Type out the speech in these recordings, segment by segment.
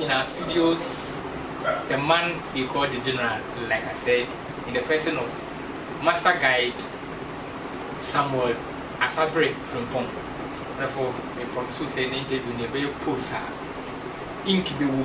In our studios the man they call the general like I said in the person of master guide Samuel Asabre Frimpong therefore me promise wo sɛ ne interview no yɛbɛyɛ post a ink bɛwɔ mu.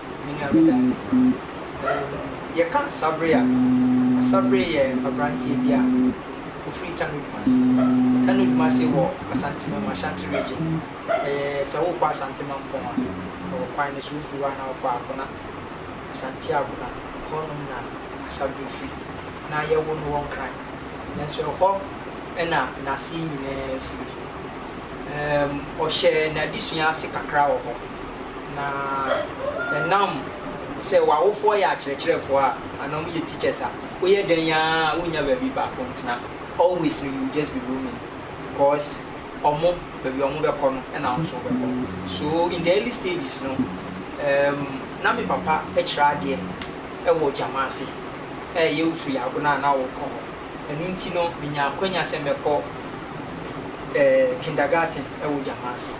Me nua meda ase. Umm yɛka Sabre a, na Sabre yɛ abranteɛ bi a ɔfiri Tano Dumase. Tano Dumase wɔ Asantemam, Ashanti Region. Ɛyɛ sɛ wokɔ Asante Mampɔn a, ɛwɔ kwan no so, wofiri hɔ a na wokɔ Akona, Asante Akona, ɛhɔ nom na Asabre firi. Na yɛwoo no wɔ Nkran, nanso ɛhɔ na n'ase nyinaa firi. Umm ɔhyɛɛ n'adesua ase kakra wɔ hɔ. Na ɛnam sɛ w'awofoɔ yɛ akyerɛkyerɛfoɔ a, anaa wɔn yɛ teachers a, woyɛ dɛn ara a wonnya baabi baako ntena. Always no you will just be roaming because wɔn, baabi a wɔn bɛkɔ no na wo nso wobɛkɔ. So in the early stages no, um, na me papa kyerɛ adeɛ wɔ gyama ase, ɛyɛ wofiri Agona a na wokɔ hɔ. Ɛno nti no, minyaa akwanya sɛ mɛkɔ eh, kindergarten wɔ Gyamase.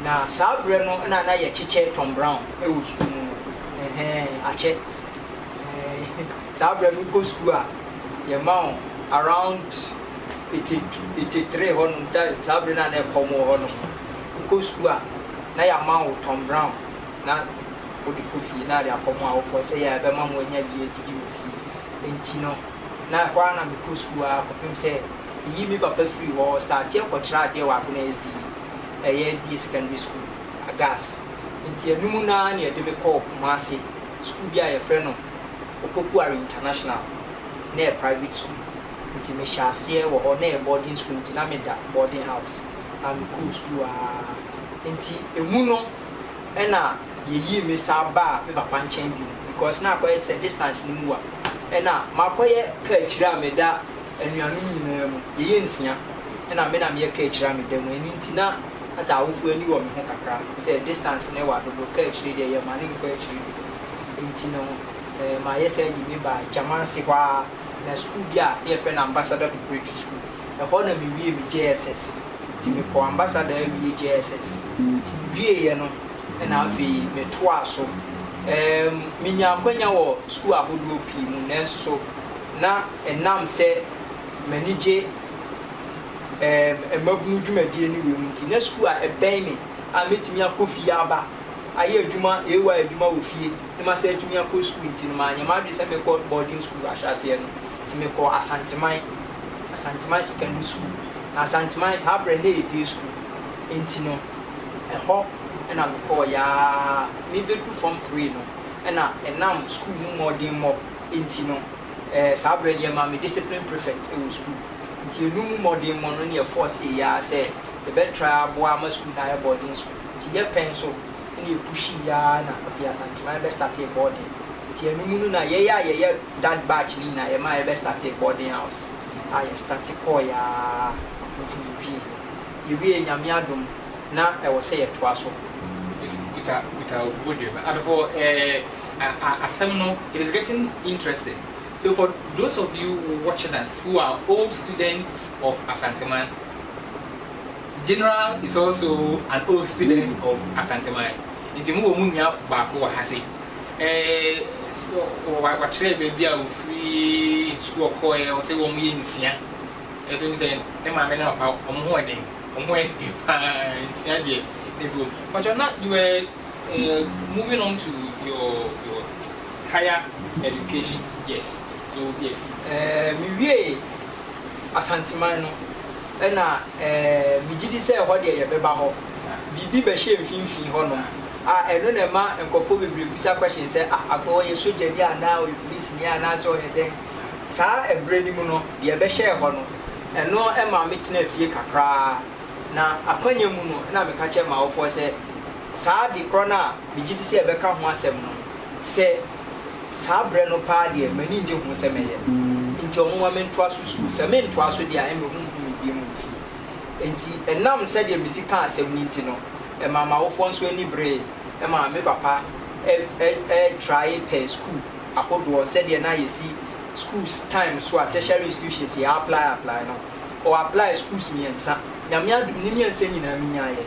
Na saa berɛ no na na yɛkyekyɛ Tom Brown wɔ sukuu mu no, eh-hɛn, akyɛ. Eh, saa berɛ no wokɔ sukuu a, yɛma wo around eighty two, eighty three hɔnom, da, saa berɛ no a na ɛkɔm wɔ hɔnom. Wokɔ sukuu a, na yɛama wo Tom Brown na wode kɔ fie, na yɛde akɔ mo awofoɔ sɛ yɛ a ɛbɛma moanya bi adidi wɔ fie. Enti no. na hɔ ara na mekɔɔ sukuu ara kɔpem sɛ meyii me papa firii hɔ starteɛ kɔkyerɛ adeɛ wɔ Agona SDA, ɛyɛ SDA Secondary School, Agas. Nti ɛno mu no ara na yɛde me kɔɔ Kumase sukuu bi a yɛfrɛ no Opokuare International, na ɛyɛ private sukuu. Nti mehyɛɛ aseɛ wɔ hɔ, na ɛyɛ boarding sukuu nti na meda boarding house a mekɔɔ sukuu ara nti ɛmu no na. Yeyii me saa baa me papa nkyɛn bio because na akɔyɛ te sɛ distance no mu wa. Ɛna makɔyɛ kaakyire a meda anuanom nyinaa mu. Yɛyɛ nsia ɛna me na meyɛ kaakyire a meda mu. Ɛno nti na asɛ awofo ani wɔ me ho kakra sɛ distance no wa dodo, kaakyire deɛ yɛ mane nkɔ akyire dodo. Nti no ɛɛ mayɛ saa yii me baa Gyamase hɔ ara na school bi a ne yɛfrɛ no Ambassador Preparatory School. Ɛhɔ na me wiee me JSS. Nti me kɔɔ Ambassador awie JSS. Nti me wieɛ no. na afei metoaa so. Um, minyaa akwanya wɔ sukuu ahodoɔ pii mu, nanso na ɛnam sɛ m'ani gye um, mmabunu dwumadie no wɔ mu nti, na sukuu a ɛbɛn me a mɛtumi akɔ fie aba ayɛ adwuma, AY adwuma wɔ fie, na masan atumi akɔ sukuu nti no, manyɛ m'adwene sɛ mɛkɔ boarding sukuu ahyɛaseɛ no. Nti mekɔɔ Asanteman, Asanteman Secondary School. Na Asanteman, saa berɛ no na ɛyɛ day sukuu nti no, Ɛhɔ na mekɔɔeɛ ara, mebɛdu Form Three no na ɛnam sukuu mu mmɔdemmɔ nti no, ɛɛ saa berɛ no yɛmaa me discipline prefect wɔ sukuu. Nti ɛno mu mmɔdemmɔ no na yɛfɔɔsee yɛn ara sɛ yɛbɛtra aboa ama sukuu no ayɛ boarding school. Nti yɛ pɛn so na yɛpushii ara na afei Asanteman bɛstartee boarding. Nti ɛno mu no na yɛn a yɛyɛ that batch no nyinaa yɛmaa yɛbɛstartee boarding house a yɛstarte kɔɔeɛ ara kɔsi yɛwieeɛ. Yɛwie Nyame adom na ɛwɔ sɛ yɛtoa so. Please kuta kuta wo body ba and for eh a asɛm no it is getting interesting so for those of you watching us who are old students of Asanteman General is also an old student of Asanteman nti mo wɔ mo nua baako wɔ ha sei eh wa wakyerɛ baabi a ɔfiri sukuu ɔkɔɔɛ ɔsɛ wɔn yɛ nsia. Ɛsɛ sɛ ne maame ne ne papa wɔn ho yɛ den, wɔn ho yɛ den paa nsia deɛ ɛgu o. Mpakyɛw na you were eh, moving on to your your higher education yes so yes. Eh, me wiee Asanteman no ɛna eh, me gye di sɛ ɛhɔ deɛ yɛ bɛba hɔ, biribi bɛ hyɛ mfinfin hɔ nom a ɛno na ɛma nkorɔfoɔ bebree bisa question sɛ ah, Akoa ɔyɛ sogyani anaa ɔyɛ polisini anaa sɛ ɔyɛ dɛn? Saa ɛberɛ no mu no, deɛ ɛbɛhyɛɛ hɔ no, ɛno maa me tenaa fie kakra ara, na akwanya mu no na meka kyerɛ m'awofoɔ sɛ, saa ade korɔ no a megye di sɛ ɛbɛka ho asɛm no, sɛ saa berɛ no paa deɛ m'ani nnye ho sɛ mɛyɛ, enti wɔn mma mentoa so sukuu, sɛ mentoa so deɛ a ɛnna wɔnhu me bio wɔ fie. Enti ɛnam sɛdeɛ mesi kaa asɛm no nti no, ɛmaa m'awofoɔ nso ani beree, ɛmaa me papa trae pɛɛ sukuu ahodoɔ sɛdeɛ na yɛsi schools time so a tertiary institutions yɛ apply apply no ɔ apply schools mmiɛnsa Nyame adom ne mmiɛnsa nyinaa me nyaeɛ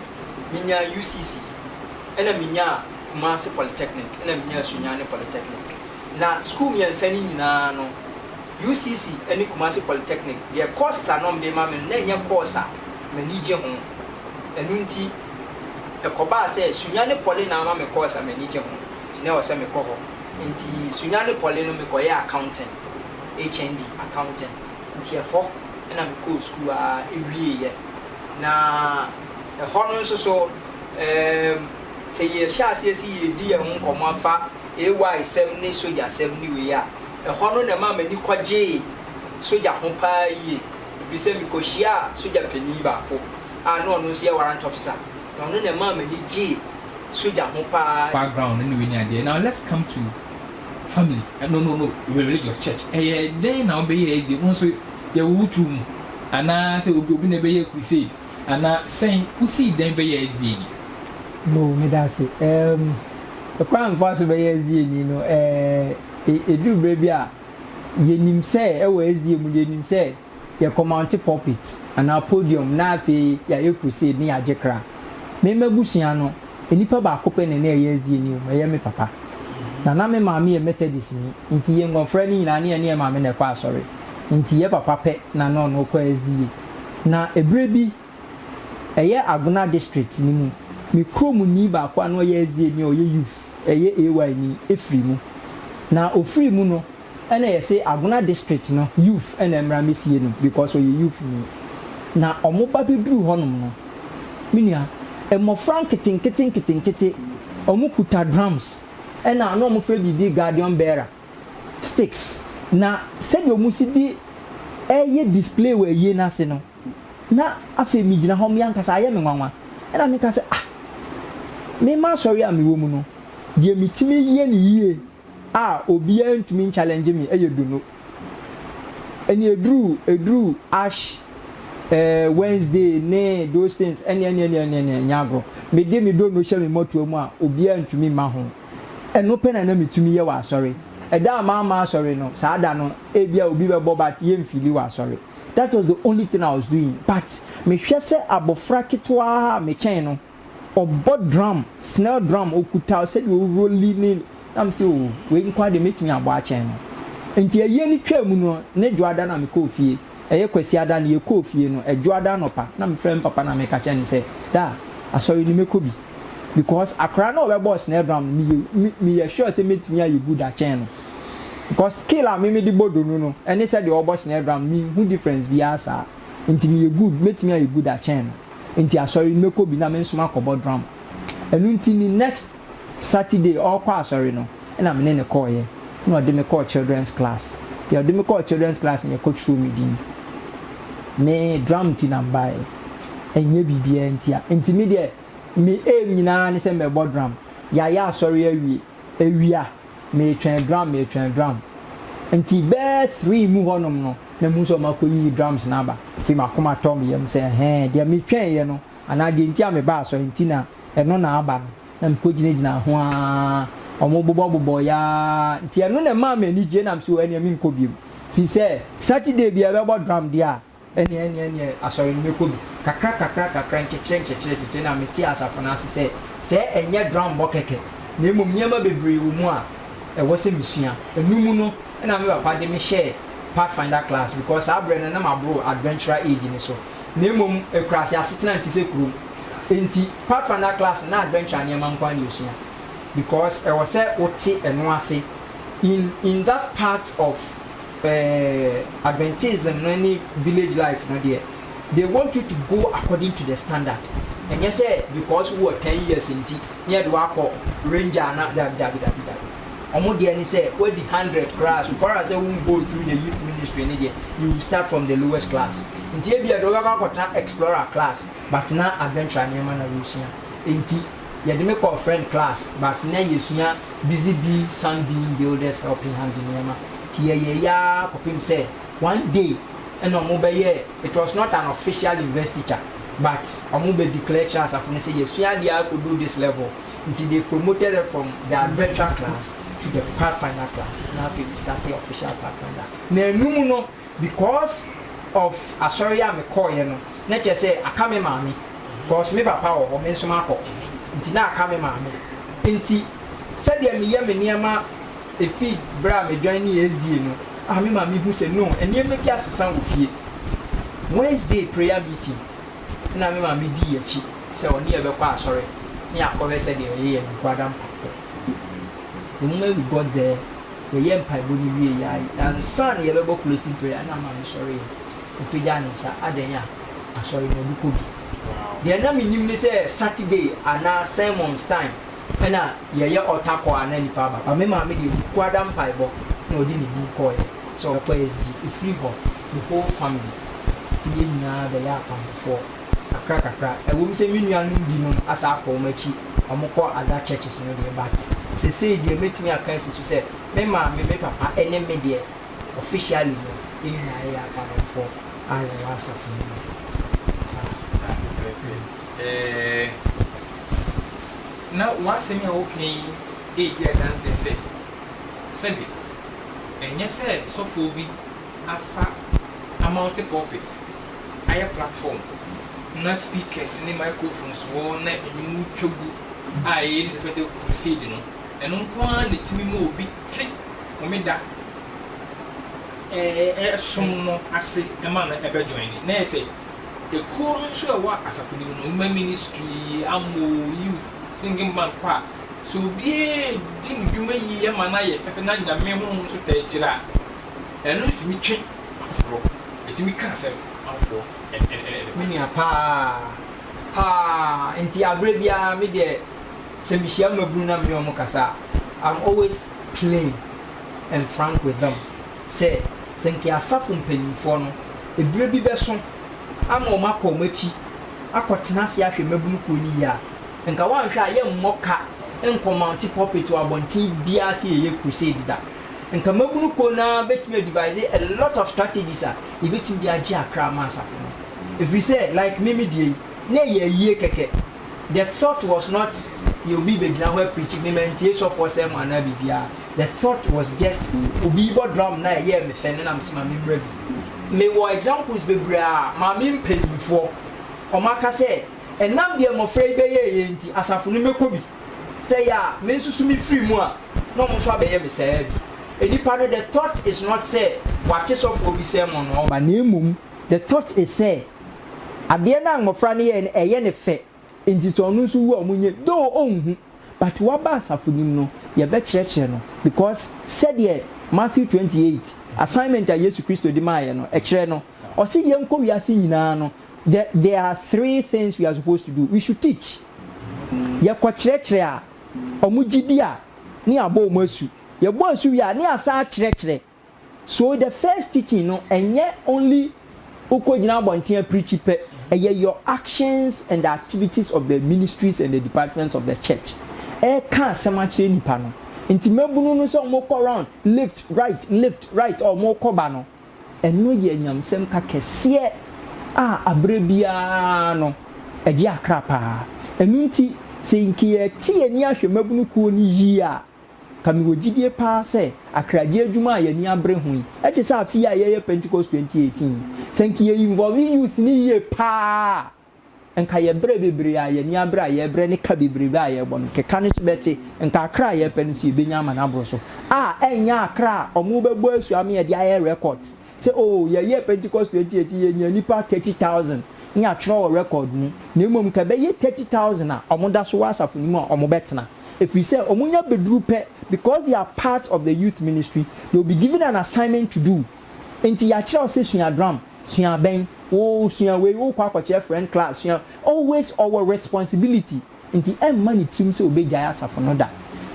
me nyaa UCC ɛna me nyaa Kumasi polytechnic ɛna me nyaa Sunyani polytechnic na school mmiɛnsa no nyinaa no UCC ɛne Kumasi polytechnic deɛ courses a na wɔde ma me no na ɛnyɛ course a m'ani gye ho ɛno nti ɛkɔbaa sɛ Sunyani poly na ama me course a m'ani gye ho nti na ɛwɔ sɛ mekɔ hɔ. Nti Sunya ne Poly no me kɔyɛɛ accounting, HND accounting, nti ɛhɔ na me kɔɔ sukuu ara wieeɛ. Na ɛhɔ no nso so eem sɛ yɛ hyɛ aseɛ se yɛ redi yɛn ho nkɔmmɔ afa AY sɛm ne sogya sɛm ne wei a, ɛhɔ no na ɛmaa m'ani kɔgyee sogya ho paa yie, ɛfiri sɛ me kɔ hyiaa sogya panin baako a na ɔno nso yɛ warrant officer. Na ɔno na ɛmaa m'ani gyee sogya ho paa. Background ne wei ne adeɛ now let's come to family no no no religious church ɛyɛ dɛn na wobɛyɛ ɛdze wo nso yɛwo wo too mu anaa sɛ obi obi na ɛbɛyɛ crusade anaa sɛn wosii dɛn bɛyɛ ɛdze ni. Yoo meda ase ɛɛm ɛkwan a mefaa so bɛyɛ ɛdze ni no ɛɛ ɛduru berɛ bi a yɛnim sɛ ɛwɔ ɛdze mu no yɛnim sɛ. Yɛkɔmounte pulpit, anaa podium, na afei yɛayɛ crusade ne yɛagye kra. Me m'abusua no, nnipa baako pɛ na na ɛyɛ SDAni o, ma ɛyɛ me papa. Na na me maame yɛ Methodistni, enti yɛn mmɔfra no nyinaa, na yɛne yɛn maame na ɛkɔ asɔre. Enti yɛn papa pɛ na na ɔne wo kɔ SDA. Na ɛberɛ bi, ɛyɛ Agona district no mu, me kuromni baako a na ɔyɛ SDAni a ɔyɛ youth, ɛyɛ AY ni, firii mu. Na ɔfirii mu no, Ɛna yɛse Agona district no youth na ɛmmra mɛsie no because ɔyɛ youth ni. Na ɔmo ba bɛduru hɔ nom no me nua mmɔfra nketenkete nketenkete ɔmo kuta drums ɛna na ɔmo frɛ biribi guardian bearer sticks na sɛdeɛ ɔmo si de ɛɛyɛ display wɔ ayie no ase no na afei me gyina hɔ me ankasa ayɛ me nwanwa ɛna meka sɛ ah me ma asɔre a me wɔ mu no deɛ me tumi yɛ no yie a obiaa ntumi nchallenge me ɛyɛ dono ɛne ɛduru ɛduru ash eh Wednesday ne those things ɛne ɛne ɛne ɛne ɛne nyɛ agorɔ mede me dono hyɛ me mmɔtoa mu a obiaa ntumi mma ho ɛno pɛ na na metumi yɛ wɔ asɔre ɛda a mamma asɔre no saa da no ebia obi bɛbɔ but yɛ nfeeli wɔ asɔre that was the only thing I was doing but mehwɛ sɛ abɔfra ketewaa a mekyɛn no Ɔbɔ drum, snare drum, ɔkuta sɛdeɛ ɔrolli ne, na me se oh, wei nko ara deɛ mɛtumi abɔ akyɛn no. Nti ayie no twaa mu no, ne Dwoada na mekɔɔ fie, ɛyɛ Kwasiada no yɛkɔɔ fie no, Dwoada anɔpa na mefrɛ me papa na meka kyerɛ no sɛ, Daa, asɔre no mɛkɔ bi. Because akwadaa no a ɔbɛbɔɔ snare drum no, meyɛ, me, meyɛ sure sɛ mɛtumi ayɛ good akyɛn no. Because skill a me mede bɔ donu no ne sɛdeɛ ɔrebɔ snare drum no, menhu difference biara saa. Nti meyɛ good, mɛtumi ayɛ good akyɛn no. Nti asɔre no mɛkɔ bi na me nso makɔbɔ drum. Ɛno nti ne next Saturday ɔrekɔ asɔre no na me ne no kɔeɛ na ɔde me kɔɔ children's class. Deɛ ɔde me kɔɔ children's class no yɛkɔtwerɛɛ me din. Me drum nti na mebaeɛ ɛnyɛ biribiara nti a. Nti me deɛ me aim nyinaa ne sɛ mɛbɔ drum. Yɛayɛ asɔre awie, awia meretwɛn drum, meretwɛn drum. Nti bɛyɛ three mu hɔnom no, na mehu sɛ wɔakɔyiyi drums no aba. Afei m'akoma tɔɔ me yam sɛ, Ɛhɛɛ, deɛ metwɛneeɛ no, anaa deɛ nti a mebaa asɔre nti na ɛno na aba no. Na mekɔgyinagyinaa ho ara, wɔbobɔbobɔeɛ ara nti ɛno na ɛmaa me anigyeɛ, na mese, Oh, ɛnneɛ menkɔ bio. Firi sɛ Saturday biara yɛbɛbɔ drum deɛ a, Ɛnneɛ, ɛnneɛ, ɛnneɛ, asɔre no mɛkɔ bi. Kakra, kakra, kakra, nkyekyere, nkyekyere, nkyekyere, na metee asafo no ase sɛ, Sɛ ɛnyɛ dwammɔ kɛkɛ, na mmom nneɛma bebree wɔ mu a ɛwɔ sɛ mesua. Ɛno mu no na me papa de me hyɛɛ Pathfinder class, because saa berɛ no na maboro adventurer age no so. Na mmom akuraase asetena nte sɛ kurom, enti Pathfinder class no na adventure nneɛma nko ara na yɛsua, because ɛwɔ sɛ wote ɛno ase in in that part of. Eh, Adventism no ne village life no deɛ, they want you to go according to the standard. Ɛnyɛ sɛ because wowɔ ten years nti na yɛde wo akɔ ranger na dabi dabi dabi dabi. Wɔn deɛ ne sɛ woadi hundred koraa so far as sɛ wo go through the youth ministry no deɛ, you will start from the lowest class. Nti ebia deɛ wobɛkɔ akɔtena explorer class but na adventure nneɛma na woresua nti. yɛde me kɔɔ Fred class but na yɛsua busy bee sunbeam builders helping hand nneɛma nti yɛyɛɛ yi ara kɔpem sɛ one day ɛna ɔmo bɛyɛɛ it was not an official university teacher but ɔmo bɛ declare kyerɛɛ asafo no sɛ yɛsua adeɛ ara kɔduru this level nti they've promoted us from the adventure class to the pathfinder class na afei me startee official pathfinder na anum no. because of asɔre a me kɔɔyɛ no na kyerɛ sɛ aka me maame cause me papa wɔ hɔ me nso makɔ nti na aka me maame nti sɛdeɛ me yɛ me nneɛma ɛfi berɛ a me joinee SDA no a me maame hu sɛ no nneɛma bi asesa wɔ fie Wednesday prayer meeting na me maame dii akyi sɛ ɔne yɛ bɛkɔ asɔre ne akɔhwɛ sɛdeɛ yɛyɛ nkuadampa wɔ mu we got there. yɛyɛɛ mpaebɔ no wieeɛ ara yi, ansa na yɛbɛbɔ closing prayer no, na maame sɔreeɛ, ɔpagyaa ne nsa, adɛn a? Asɔre no ɔde kɔ bi. Deɛ na mennim ne sɛ Saturday anaa sermons time na yɛyɛ altar call a na nnipa aba, but me maame deɛ ɔde kuada mpaebɔ na ɔde ne din kɔeɛ sɛ ɔrekɔ SDA. Ɛfiri hɔ, the whole family, yɛn nyinaa bɛyɛɛ akwampafoɔ. kakrakakra. Ɛwom sɛ me nuanom binom asan akɔ wɔn akyi, wɔkɔ other churches no deɛ, but seesei deɛ mɛtumi aka asi so sɛ me maame, me papa ne me deɛ, officially no, yɛn nyinaa yɛyɛ Akanmanfoɔ a yɛwɔ asafo no mu. Saa. Saa pɛpɛɛpɛ. Ɛɛ, na w'asɛm a woka yi redi adanseɛ sɛ, sɛbe ɛnyɛ sɛ sɔfoɔ bi afa amounte pulpit ayɛ platform na speakers ne microphones wɔ hɔ na nnwom no twa gu a ɛyɛ ne tɛfɛ tɛ crusade no, ɛno nko ara na ɛtumi ma obi te Homeda som no ase ma no bɛ joine. Na sɛ ɛkuo no nso a ɛwɔ asafo no mu no, women ministry, ammo, youth, singing band kɔ a, sɛ obiara di ne dwuma yie ma no ayɛ fɛfɛ na Nyame Honhom nso taa kyire a, Ɛno tumi twe afoforɔ, ɛtumi ka asɛm ma afoforɔ ɛde ba. Me nua paa paa nti aberɛ biara me deɛ sɛ me hyia mmabunu na me ne wɔn kasa a I'm always plain and frank with them sɛ sɛ nka asafo mpaninfoɔ no ɛberɛ bi bɛso ama wɔn akɔ wɔn akyi akɔ tena ase ahwɛ mmabunu kuo no yie a nka wɔanhwɛ a yɛmmɔ ka nkɔ mounte pulpit wɔ abɔnten biara sɛ yɛyɛ crusade da. Nkamabunu kuo no ara bɛtumi a devise a lot of strategies a yɛbɛtumi de agye akra ama asafo no. Ɛfiri sɛ like me me deɛ yi, na ɛyɛ ayie kɛkɛ. The thought was not yɛ obi bɛgyina hɔ apreachi me, mantie sɔfoɔ sɛm anaa biribiara. The thought was just obi rebɔ drum na ɛyɛɛ me fɛ na na mese ma memmra bi. Mewɔ examples bebree a Maame mpaninfoɔ wɔaka sɛ ɛnam deɛ mmɔfra yi bɛyɛɛyɛ nti asafo no mɛkɔ bi. Sɛ ɛyɛ a me nso so mefiri mu a, na wɔn nso abɛyɛ me saa ara bi. Nnipa no, the thought is not sɛ wɔate sɔfoɔ bi sermon na wɔba, na mmom the thought is sɛ adeɛ no a mmɔfra no yɛeɛ no, ɛyɛ no fɛ, nti sɛ ɔno nso wu a wɔnyɛ bi. Though ɔnhu, but waba asafo no mu no, yɛbɛkyerɛkyerɛ no because sɛdeɛ Matthew twenty eight, assignment a Yesu Kristo de maeɛ no, ɛkyerɛ no, ɔse yɛnkɔ wiase nyinaa no, the, there are three things we are supposed to do, we should teach. Yɛkɔkyerɛkyerɛ a, wɔgye di a, ne yɛabɔ wɔn asu. Yɛbɔ asu wie a, ne yɛasan akyerɛkyerɛ. So the first teaching no, ɛnyɛ only wokɔgyina abɔnten apreakyi pɛ, ɛyɛ your actions and the activities of the ministries and the departments of the church. Ɛreka asɛm akyerɛ nnipa no. Nti mmabunu no sɛ wɔkɔ round, left, right, left, right a wɔkɔ ba no, Ɛno yɛ nyamsɛmka kɛseɛ a aberɛ biara no ɛgye akra paa. Ɛno nti sɛ nka yɛte yɛn ani ahwɛ mmabunu kuo no yie a, nka mewɔ gyidie paa sɛ akragyeɛ adwuma a yɛn ani abere ho yi, ɛte sɛ afe yi a yɛreyɛ Pentecost 2018 yi, sɛ nka yɛ involve youth no yie paa a, Nka yɛ brɛ bebree a yɛani abre a yɛrebrɛ ne ka bebrebe a yɛrebɔ no, keka no so bɛte, nka akra a yɛrepɛ no nso yɛbɛnya ama no aboro so, a ɛnyɛ akra a wɔbɛbɔ asu ama yɛde ayɛ records sɛ oo yɛyɛɛ Pentecost 2018 yɛnyaa nnipa 30,000 ne yɛatwerɛ wɔ record mu, na mmom nka ɛbɛyɛ 30,000 a wɔda so wɔ asafo no mu a wɔbɛtena, ɛfiri sɛ wɔnya bɛduru pɛ because they are part of the youth ministry, they will be given an assignment to do. Enti yɛakyerɛ wo sɛ sua drum, sua abɛn, oo sua wei, wokɔ akɔkyerɛ friend class, sua Always ɔwɔ responsibility nti ɛmma ne tirim sɛ ɔbɛgyae asafo no da.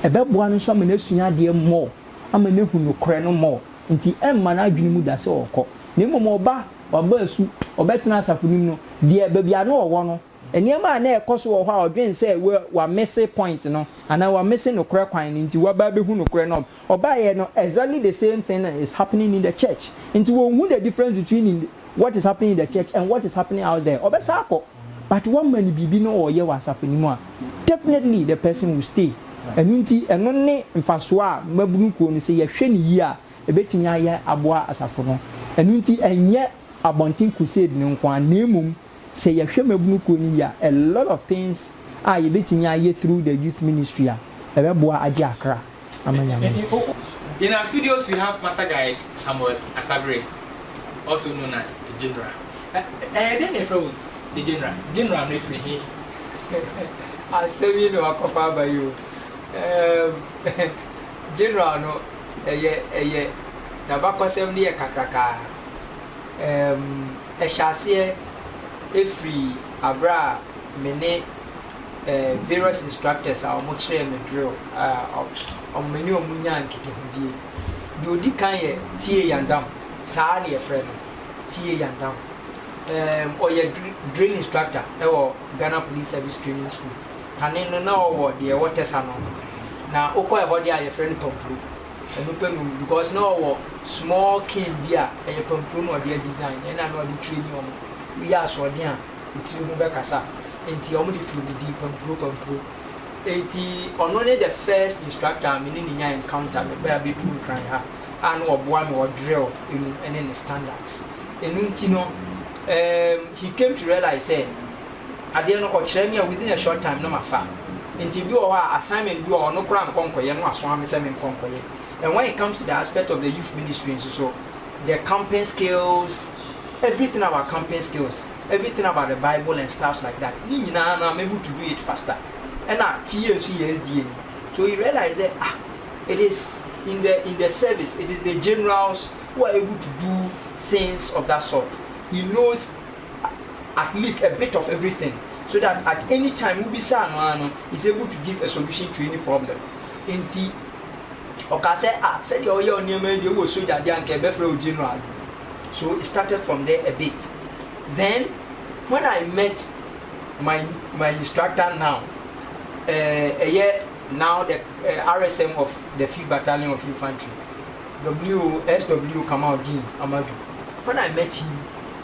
Ɛbɛboa no nso ama no asua adeɛ more, ama no ahu nokorɛ no more, nti ɛmma n'adwene mu da sɛ ɔrekɔ. Na mmom ɔba, waba asu, ɔbɛtena asafo no mu no, deɛ baabi a na ɔwɔ no, nneɛma a na ɛrekɔ so wɔ hɔ a ɔdwene sɛ wamese point no anaa wamese nokorɛ kwan no nti waba abɛhu nokorɛ no Ɔbaeɛ no exactly the same thing is happening in the church nti wɔnhu the difference between in what is happening in the church and what is happening out there ɔbɛsan akɔ but woama no biribi na ɔreyɛ wɔ asafo no mu a definitely the person will stay ɛno nti ɛno ne mfasoɔ a mmabunu kuo no sɛ yɛhwɛ no yie a ɛbɛtumi ayɛ aboa asafo no ɛno nti ɛnyɛ abɔnten crusade no nko ara na mmom Sɛ yɛhwɛ mmabunu kuo no yie a, a lot of things a yɛbɛtumi ayɛ through the youth ministry a ɛbɛboa agye akra ama Nyame. In our studios we have Master Guide Samuel Asabere also known as the General. Ɛ ɛyɛ dɛn na yɛfrɛ wo the General? General no firi he? Asɛm yi na wakɔfa aba yi o. Ɛɛm, General no, ɛyɛ, ɛyɛ, n'abakɔsɛm no yɛ kakraka. Ɛɛm. Ɛhyɛ aseɛ firi aberɛ a me ne eh, various instructors a wɔn kyerɛɛ me drill a ɔ, me ne wɔn nyaa nkitahodie. Deɛ ɔdi kan yɛ Tie Yandam, saa na yɛfrɛ no, Tie Yandam. Eh, ɔyɛ dri, drill instructor wɔ Ghana Police Service Training School. Kane no na ɔwɔ deɛ ɛwɔ Tɛsa no, na wokɔ ɛhɔ deɛ a yɛfrɛ no Pampuro. Ɛno pɛ no because na ɔwɔ small cane bi a ɛyɛ pampro na ɔde adesign ɛna na ɔde traini wɔn. Woyɛ asoɔden a wo tiri ho bɛkasa enti wɔn de too ne din Pampro Pampro. Enti ɔno ne the first instructor a me ne no nya encounter mebaa abɛduru Nkran ha a na ɔboa me wɔ drill mu ɛne ne standards. Ɛno nti no um he came to realize sɛ. Adeɛ no ɔkyerɛ me a within a short time no mafa nti ebi wɔ hɔ a assignment bi wɔ hɔ no koraa nkɔ nkɔyɛ no wasoa me sɛ menkɔ nkɔyɛ and when it comes to the aspect of the youth ministry nso so the camping skills everything about camping skills everything about the bible and stuffs like that ne nyinaa no I'm able to do it faster ɛna TA nso yɛ SDA ni so he realized sɛ ah it is in the in the service it is the generals who are able to do things of that sort he knows at least a bit of everything so that at any time wo bisaa no ara no he's able to give a solution to any problem nti ɔkaa sɛ ah sɛdeɛ ɔyɛ ɔnneɛma yi deɛ wowɔ sogya deɛ anka ɛbɛfrɛ wo general so it started from there a bit then when I met my my instructor now ɛyɛ uh, now the uh, RSM of the 5th Battalion of Infantry W.O.S.W. Kamaldeen Amadou when I met him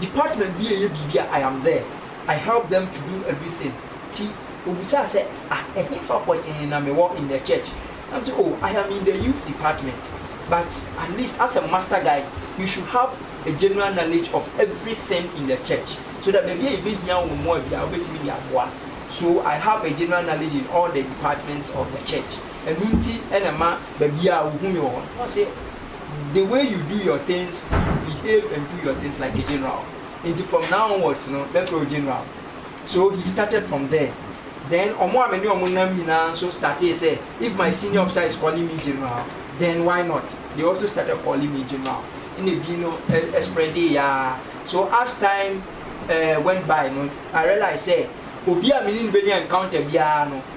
Department bi reyɛ biribi a I am there, I help them to do everything nti ɔbisaa sɛ ah ɛhefa pɔtee na mewɔ in the church? Na mese oh I am in the youth department but at least as a master guy you should have a general knowledge of everything in the church so that baabi a yɛbɛhia wo mmoa biara wobɛtumi de aboa so I have a general knowledge in all the departments of the church ɛno nti na ɛma baabiara wohu me wɔ hɔ no. Ɔse. the way you do your things, you behave and do your things like a general. Nti from now onwards no, mɛfrɛ wo general. So he started from there. Then ɔmo a me ne ɔmo nam nyinaa nso startee sɛ, if my senior officer is calling me general, then why not? They also started calling me general. Ɛna edin no spreadee aa. So as time went by no, I realised sɛ, obi a me ne no bɛnya encounter biara no,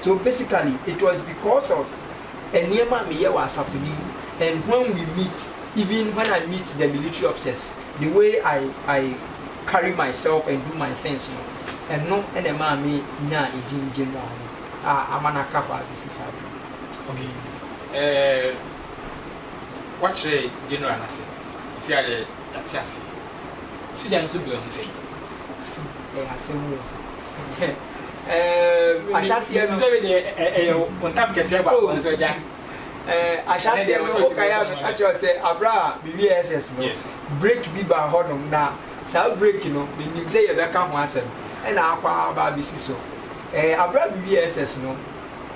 So basically it was because of nneɛma a meyɛ wɔ asafo no mu and when we meet even when I meet the military officers the way I I carry myself and do my things no ɛno na ɛmaa me nyaa edin General no a ama no aka hɔ abesi saa bere yi. Ok eh woakyerɛ yɛn General no ase seesei ara deɛ yɛate aseɛ. Sogya no nso berɛ ho sɛn? Ɛyɛ asɛm o. ahyɛaseɛ no sɛbi deɛ ɛyɛ wo ntam kɛseɛ ba wɔn nso agya ahyɛaseɛ no wokae a meka kyerɛ sɛ aberɛ a mewie ss no break bi baa hɔnom na saa break no menim sɛ yɛbɛka ho asɛm ɛna akɔ aba abɛsi so aberɛ a mewie ss no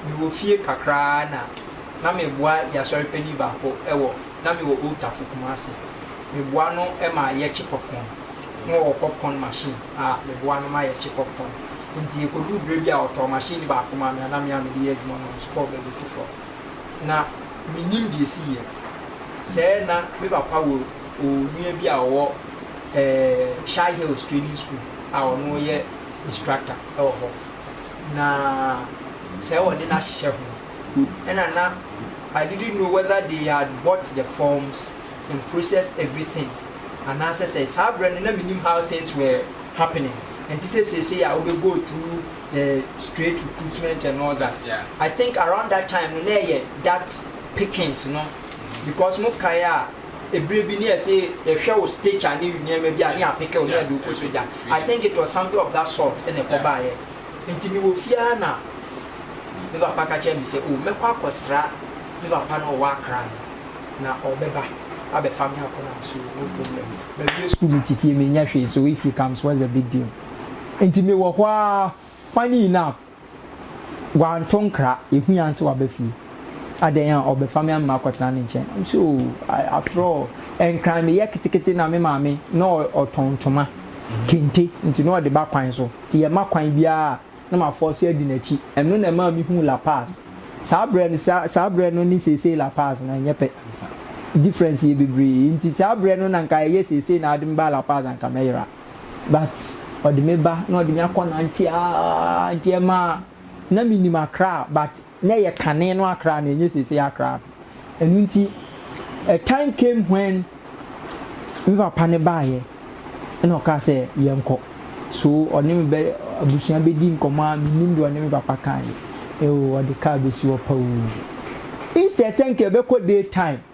mewɔ fie kakraa na na meboa yɛasɔre pani baako ɛwɔ na mewɔ Old Tafo Kumasi meboa no ma yɛkye popcorn na wɔwɔ popcorn machine na meboa no ma yɛkye popcorn. Enti ekoduu bere bi a ɔtɔɔ mahyɛne baako maa me a na me a mede yɛ adwuma no nso kɔɔ baabi foforo. Ná minnim deɛ esiiɛ. Sɛɛ na me papa wɔ onua bi a ɔwɔ ɛɛ Shy Hills Training School a ɔno yɛ instructor wɔ hɔ. Na sɛɛ wɔ ne n'ahyehyɛ ho. Ɛna na I didn't know whether they had bought the forms. and processed everything anaasɛ sɛ saa berɛ no na mennim how things were happening ɛnte sɛ seesei a wobɛ go through the straight recruitment and all that I think around that time no na ɛyɛ that pickings no because mo kae a ɛberɛ bi ne ɛse yɛhwɛ wo stature ne nneɛma bi a ne yɛapeke wo ne yɛde wo kɔ sogya I think it was something of that sort ɛna ɛkɔ baeɛ nti mewɔ fie ara na me papa ka kyerɛ me sɛ oh mɛkɔ akɔsra me papa no ɔwɔ Accra no na ɔbɛba abɛfa me akɔ nam so wɔ Mopum na me mawie sukuu mete fie mennya hwee so if he comes what's the big deal nti mewɔ hɔ ara funny enough wanto nkra ɛhu yɛn sɛ waba fie adɛn a ɔbɛfa me ama makɔtena ne nkyɛn I'm so I, after all nkran meyɛ ketekete na me maame na ɔtɔn ntoma kente nti na ɔde ba kwan so nti yɛma kwan biara na m'afɔɔse adi n'akyi. Ɛno na ɛmaa mehuu La Paz. Saa berɛ no, saa, saa berɛ no ne seesei La Paz no, ɛnyɛ pɛ. Difference yɛ bebree. Enti saa berɛ no na anka ɛyɛ seesei na ɔde me baa La Paz a anka mɛyera. But ɔde me ba na ɔde me akɔ nante ara, nti ɛmaa, na menim Accra but na ɛyɛ kane no akra na ɛnyɛ seesei akra no. Ɛno nti, a time came when me papa no baeɛ na ɔkaa sɛ yɛnkɔ. So ɔne me bɛ abusua bɛdi nkɔmmɔ a mennim deɛ ɔne me papa kaeɛ. Ewoo ɔde car bɛsi hɔ pa oo. Instead sɛ nka yɛbɛkɔ day time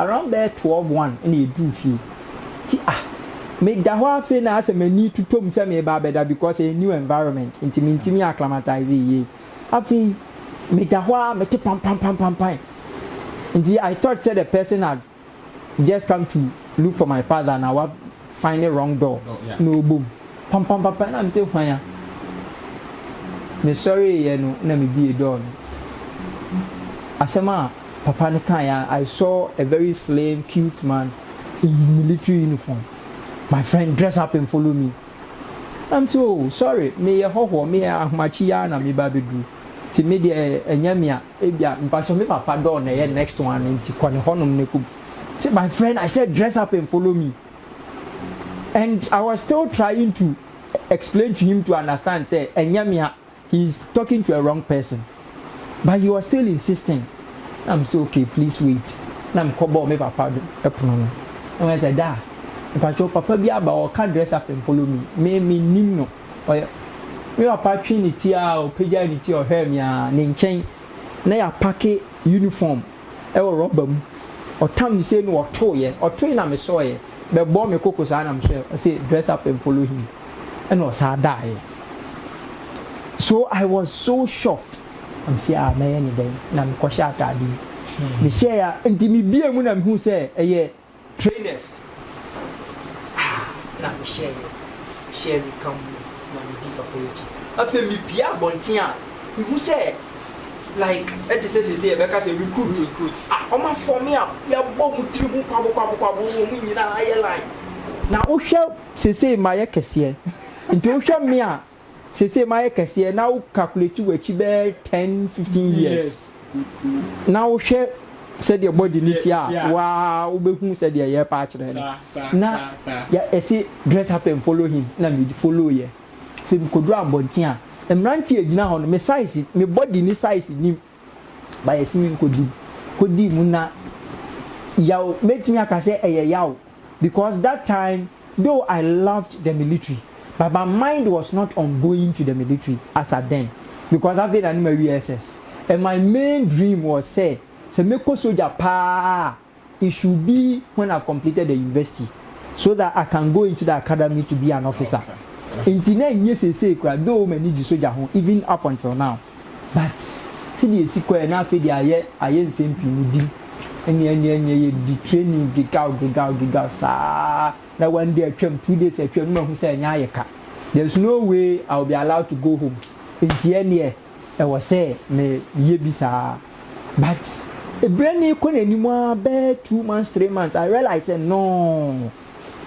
Around bɛyɛ twelve one na yɛduruu fie nti ah meda hɔ ara afei na ayɛ sɛ m'ani totɔ mu sɛ mereba abɛda because ɛyɛ new environment nti mentumi acclimatise yie. Afei meda hɔ ara mete pampampampampae nti I thought sɛ the person had just come to look for my father na wa Fine ne wrong door na ɔbɔ mu pampampapa na me sɛ hwan a? Me sɔreeɛ no na me bue door no, asɛm a papa no kaeɛ ara I saw a very slim cute man in military uniform, my friend dress up and follow me na me sɛ oh sorry me yɛ hɔhoɔ me yɛ ahomakye yi ara na me reba abɛduru nti me deɛ ɛnyɛ me a. Ebia, Mpakyɛ me papa dɔɔ na ɛyɛ next one no nti kɔ ne hɔnom na kɔ Say my friend I said dress up and follow me and I was still trying to explain to him to understand sɛ ɛnyɛ me a he is talking to a wrong person but he was still insisting na me sɛ okay please wait na me kɔ bɔɔ me papa do pono no na me sɛ da Mpakyɛ papa bi aba ɔɔka dress up and follow me me me nnim no. ɔyɛ Me papa twee ne ti aa ɔpagyae ne ti ɔhwɛɛ me aa Ne nkyɛn na yɛapake uniform wɔ rɔba mu Ɔtam ne sei na ɔtoeɛ Ɔtoe na mesɔeɛ Bɛbɔɔ me koko saa na mehwɛɛ Ɔse dress up and follow him Ɛna ɔsaa daeɛ So I was so shocked Na mese aa mɛyɛ no dɛn Na mekɔhyɛ ataade yi Mehyɛɛ a nti mebue mu na mehu sɛ ɛyɛ Trainers a na mehyɛɛ yɛ hyɛɛ me ka mu no na medi papa yi akyi. Afei mipue abɔnten a mihu sɛ like ɛte sɛ sɛsɛ yɛbɛka sɛ recruits a wɔn afɔme a yɛabɔ wɔn tiri ho kwabokwabokwabow no wɔn nyinaa ayɛ line. Na wohwɛ sɛsɛ mayɛ kɛseɛ nti wohwɛ me a. seesei mayɛ kɛseɛ na wo calculate w'akyi bɛyɛ ten fifteen years na wohwɛ sɛdeɛ body no teɛ a waa wobɛhu sɛdeɛ yɛrepa akyerɛ no na ɛse dress up and follow him na me follow yɛ afei mekɔduru abɔnten a mmeranteɛ gyina hɔ no me size me body ne size nim Ba yɛse yi nkɔdi kɔdi mu na yaw mɛtumi aka sɛ ɛyɛ yaw because that time though I loved the military but my mind was not on going to the military as at then because afei na ne mawie SS and my main dream was sɛ sɛ mɛkɔ sogya paa a It should be when I've completed the university so that I can go into the academy to be an officer nti na ɛnyɛ seesei koraa though m'ani gye sogya ho even up until now but sɛdeɛ ɛsi kɔɛ na afei deɛ ayɛ ayɛ nsɛm pii no di ɛne ɛne ɛne yɛdi training gegaw gegaw gegaw saa na one day atwam two days atwam na mahu sɛ ɛnyɛ ayɛ ka there's no way I will be allowed to go home nti ɛneɛ Ɛwɔ sɛ me yɛ bi saa but brɛ no rekɔ n'anim ara bɛɛ two months three months I realize sɛ nnɔɔ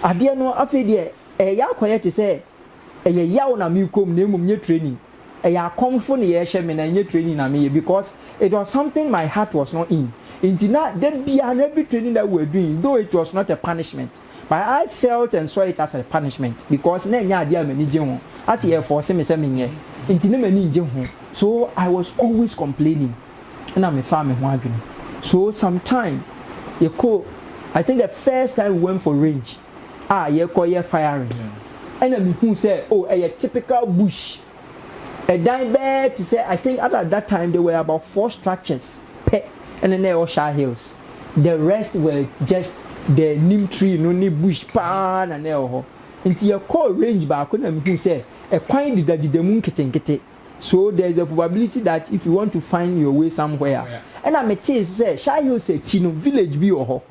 adeɛ no afei deɛ ɛreyɛ akɔyɛ te sɛ ɛyɛ yaw na merekɔ mu na mmom nyɛ training ɛyɛ akɔmfo na yɛrehyɛ me na ɛnyɛ training na meyɛ because it was something my heart was not in nti na da biara no every training that we were doing though it was not a punishment But I felt and saw it as a punishment because na ɛnyɛ adeɛ a m'ani gye ho, ase yɛrefɔɔse me sɛ menyɛ, nti na m'ani nnye ho, so I was always complaining, ɛna mefaa me ho adwene. So some time, yɛkɔ, I think the first time we went for range a yɛkɔyɛ firing, ɛna mehuu sɛ oh ɛyɛ typical bush ɛdan bɛɛ te sɛ I think at that time there were about four structures pɛ ɛna na ɛwɔ Shire Hills the rest were just the neem tree no ne bush paa na na ɛwɔ hɔ nti yɛkɔɔ range baako na mehuu sɛ ɛkwan dedadeda mu nketenkete so there is a probability that if you want to find your way somewhere a ɛna metee sɛ Shire Hills akyi no village bi wɔ hɔ.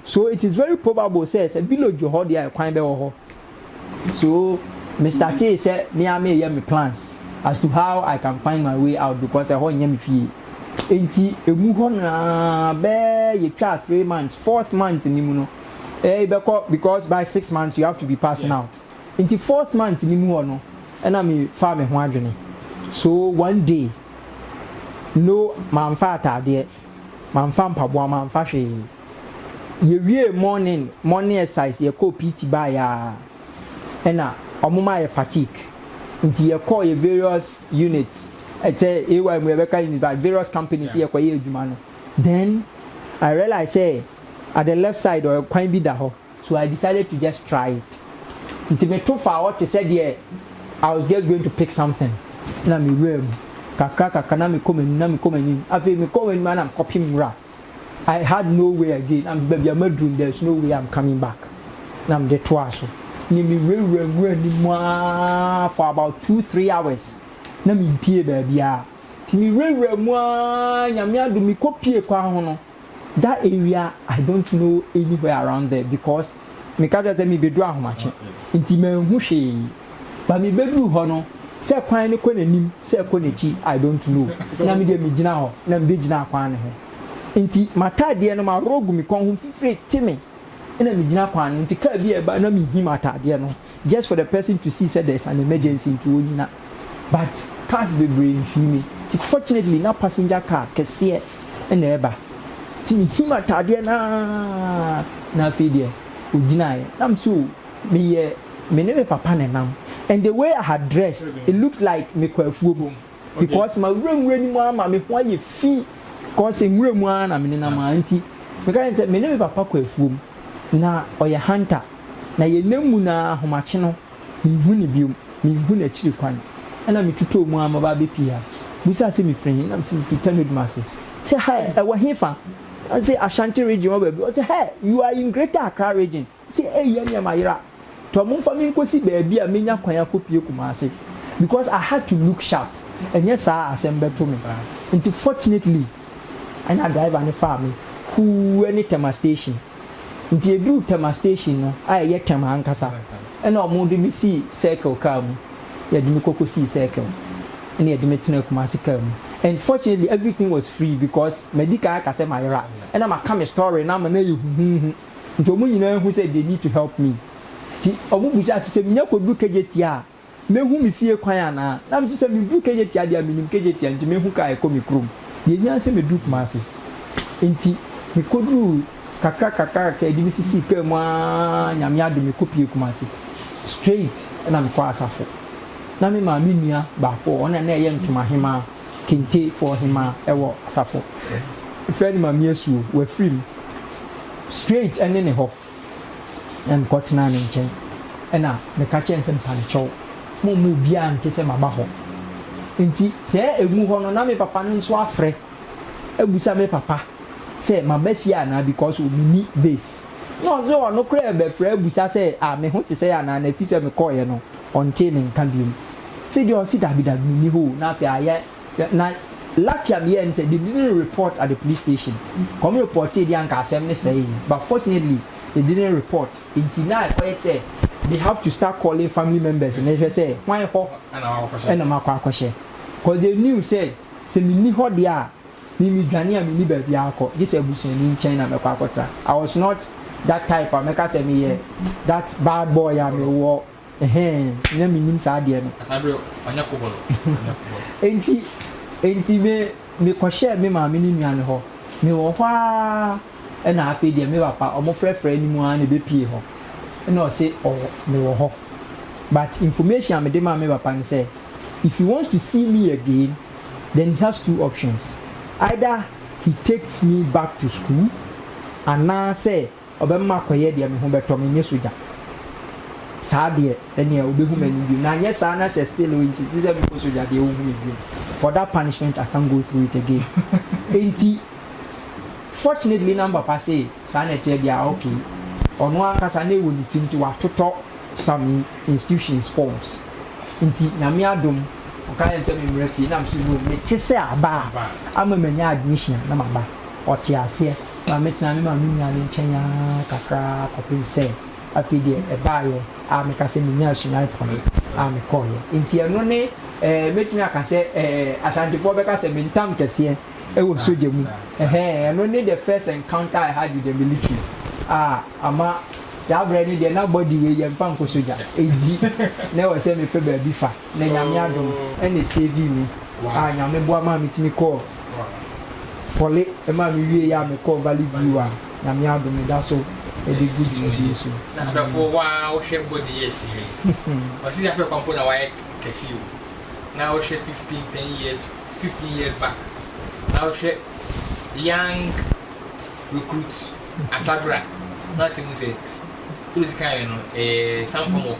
So it is very probable sɛ sɛ village wɔ hɔ deɛ a kwan bɛwɔ hɔ. So me startee sɛ me ara mereyɛ me plans as to how I can find my way out because ɛhɔ nyɛ me fie. Enti ɛmu hɔ no ara bɛɛ yɛtwaa three months, fourth month no mu no ɛɛi bɛkɔ because by six months you have to be passing out. Enti fourth month no mu hɔ no ɛna me faa me ho adwene. So one day no mamfa ataadeɛ. Mamfa mpaboa mamfa hwee. Yɛwiee morning morning exercise yɛkɔɔ PT baeɛ a ɛna wɔn maa yɛ fatigue nti yɛkɔɔ yɛ various units ɛkyɛ AY mu yɛbɛka units but various companies yɛkɔyɛɛ adwuma no then I realize sɛ at the left side hɔ kwan bi da hɔ so I decided to just try it nti me to faa hɔ te sɛ deɛ I was just going to pick something na me wuraa mu kakra kakra na me kɔ m'anim na me kɔ m'anim afei me kɔ m'anim ara na me kɔ pem nwura I had no way again na me baabi a maduru no there is no way I'm coming back na me de toaa so ne me wura wura nwura ne mu ara for about two three hours na me mpie baabi ara nti me wura wura mu ara nyame adom me kɔ pie kwan ho no. that area I don't know anywhere around there because me ka kyerɛ sɛ me bɛduru Ahomakye nti manhu hwee but me bɛduru hɔ no sɛ kwan no kɔ n'anim sɛ ɛkɔ n'akyi I don't know na me deɛ me gyina hɔ na me bɛgyina kwan no ho nti m'ataadeɛ no maworɔ agu me kɔn ho fifire te me na me gyina kwan no nti car bi a ɛba na me hi m'ataadeɛ no. just for the person to see sɛ there is an emergency nti ɔnyina but cars bebree mfii me nti fortunately na passenger car kɛseɛ na ɛreba nti mehim ataadeɛ no ara na afei deɛ ɔgyinaeɛ na me sɛ o meyɛ me ne me papa na ɛnam and the way I had dressed it looked like mekɔ afuom. because mawura nwura no mu ara ma me ho ayɛ fi because nwura mu ara na menenam ara nti meka kyerɛ no sɛ me ne me papa kɔ afuom na ɔyɛ hunter na yɛnam mu no ara ahomakye no menhu no biom menhu n'akyiri kwan ɛna metutɔɔ mu ara maba abɛpie ha bisaa sɛ mefiri he na mese mefiri Tanodum ase sɛ hɛ ɛwɔ he fa ɔse Ashanti region wɔ baabi ɔse hɛ you are in greater Accra region Sɛ eyi yɛ nea mayera tɔ mo mfa me nkosi baabi a menya kwan akopue Kumase because I had to look sharp ɛnyɛ saa a asɛm bɛto me nti fortunately ɛna driver no faa me huu ɛne Tema station nti yɛduruu Tema station no a ɛyɛ Tema ankasa ɛna ɔmo de me sii circle car mu yɛde me kɔ kosii circle ɛna yɛde me tenaa Kumase car mu and fortunately everything was free because madi kan aka sɛ mayera ɛna maka me story no ama no ayɛ huhuuhu. Nti ɔmo nyinaa hu sɛ they need to help me. Nti ɔmo bisa sɛ, sɛ menya kɔduru Kejetia a, mɛhu me fie kwan anaa? Na me nso sɛ meduru Kejetia deɛ a, menim Kejetia nti mɛhu kaa a ɛkɔ me kurom. Deɛ ɛhia ne sɛ mɛduru Kumasi. Nti mekɔduruu kakra kakra kakra, ɛde me sisii kaa mu ara, Nyame adom mekɔpue Kumasi. Straight na mekɔɔ asafo. Na me maame nua baako wɔ hɔ, ɔno na na ɛyɛ ntomahemaa. Kente foɔ hemaa ɛwɔ asafo fɛ no mami asuo wafiri mu straight ɛne ne hɔ na mekɔ tenaa ne nkyɛn ɛna meka kyerɛ no sɛ mparekyɛw momma obiara nte sɛ maba hɔ nti sɛ ɛmu hɔ no na me papa no nso afrɛ abusa me papa sɛ maba fie anaa because ɔmeni base na ɔse ɔno koraa bɛfrɛ abusa sɛ a ah, me ho te sɛ anaa na ɛfi sɛ mekɔɔyɛ no ɔntee me nka biom Afei deɛ ɔse dabi dabi menni hɔ o na afei ayɛ na lucky a meyɛɛ ne sɛ they didn't report at the police station wɔn reportee deɛ anka asɛm no sɛee but fortunately they didn't report nti na ɛkɔyɛ sɛ they have to start calling family members na ɛhwɛ sɛ hwan hɔ ɛna makɔ akɔhyɛ cause they knew sɛ sɛ menni hɔ deɛ a me medwane a menni baabi akɔ gye sɛ abusuani nkyɛn na mɛkɔ akɔtra I was not that type a mɛka sɛ meyɛ that bad boy a mewɔ Ɛhɛɛ, na mennim saa adeɛ no. Saa berɛ ɔnyɛ kobolo, ɔnyɛ kobolo. Enti, enti me, mekɔhyɛɛ me maame ne nua no hɔ. Mewɔ hɔ ara ɛna afei deɛ me papa, wɔfrɛfrɛɛ no mu ara na ɛbɛpuee hɔ. Ɛna ɔse ɔwɔ, mewɔ hɔ. But information a mede maa me papa ne sɛ, if he wants to see me again, then he has two options, either he takes me back to school, anaasɛ Ɔbɛma makɔyɛ deɛ me ho bɛtɔ me, nyɛ sogya. Saa deɛ, ɛnneɛ ɔbɛhu m'anim bio. Na anyɛ saa na sɛ still ɔinsiste sɛ menkɔ sogya deɛ, ɔnhu me bio. For that punishment, I can't go through it again. Enti, fortunately na me papa see saa na ɛteɛ deɛ a, okay. Ɔno ankasa na ɛwɔ ne tirim nti watotɔ some institutions forms. Nti, Nyame adom, ɔka kyerɛɛ me sɛ memmra fie, na mese no, mete sɛ aba a, ama manya admission a, na maba. Ɔtee aseɛ. Maame tenaa me maame nua no nkyɛn ara kakraa kɔpem sɛ afei deɛ ɛbaeɛ a mɛka sɛ menyaa sunae pɔne a mekɔeɛ. Enti ɛno ne eh, mɛtumi aka sɛ eh, Asantefoɔ bɛka sɛ mentam kɛseɛ wɔ sogya mu. Ɛhɛɛ, ɛno ne the first encounter I had with the military a ama yɛabrɛ no deɛ na body wei yɛmfa nkɔ sogya. Enti na ɛwɔ sɛ mepɛ baabi fa. na Nyame adom na esavee me a Nyame boa maa metumi kɔɔ Poly maa mewiei a mekɔɔ Valley View a Nyame adom meda so de gu dwumadie so. Na adɔfoɔ wo ara wo hwɛ body yɛ te yɛ yi ɔse Nyafɛ kwa mpo na wayɛ kɛse o na wo hwɛ fifteen ten years fifteen years back na wo hwɛ young recruit Asabra na wate hu sɛ sɛdeɛ ɔsi kan yɛ no ɛyɛ some form of